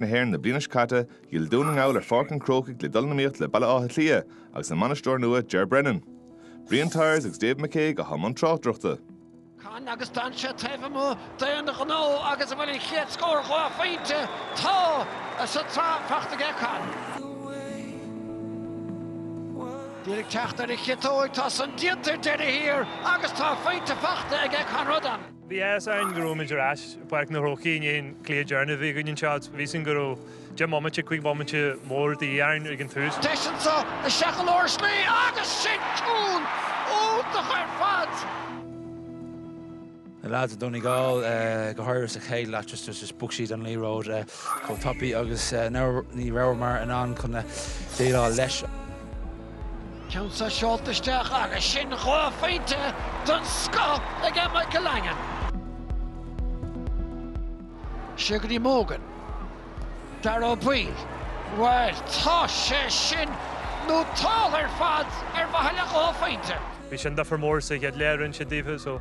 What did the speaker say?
na hÉireann na bliana seo caite, d'fhill Dún na nGall ar Pháirc an Chrócaigh le dul in iomaíocht le Baile Átha Cliath agus a mbainisteoir nua Ger Brennan. Brian Tyers agus David McCague i mbun tráchtaireachta. Con agus d'fhan sé taobh amuigh d'aon ghnó agus an bhfuil an chéad scór dhá phointe tá sa tsraith fachta aige Con. D'iarraidh teacht ar an chiotóg, tá san déanta ar deireadh thiar agus dhá phointe fachta ag Conradh an. Bhí a fhios againn go rabhaimid ar ais i bPáirc an Chrócaigh i ndiaidh an chluiche deireanach a bhí againn anseo. Bhí a fhios againn go raibh deich mbomaite, cúig bhomaite mór de dhíth orainn ag an tús. Deis anseo do Sheán Óir slí agus sin cúl iontach ar fad! Na lads i Donegal, go háirithe sa chéad leath, just just bhog siad an liathróid chomh tapaidh agus ní rabhamar in ann chun déileáil leis. Ceann so seolta isteach agus sin dhá phointe den scoth aige Michael Langan. Siar go dtí Mogan, Dáire Ó Baoill, bhuel tá sé sin nótáilte ar fad ar mhaithe le dhá phointe. Bhí sin difir mór sa chéad leath rinne siad daofa so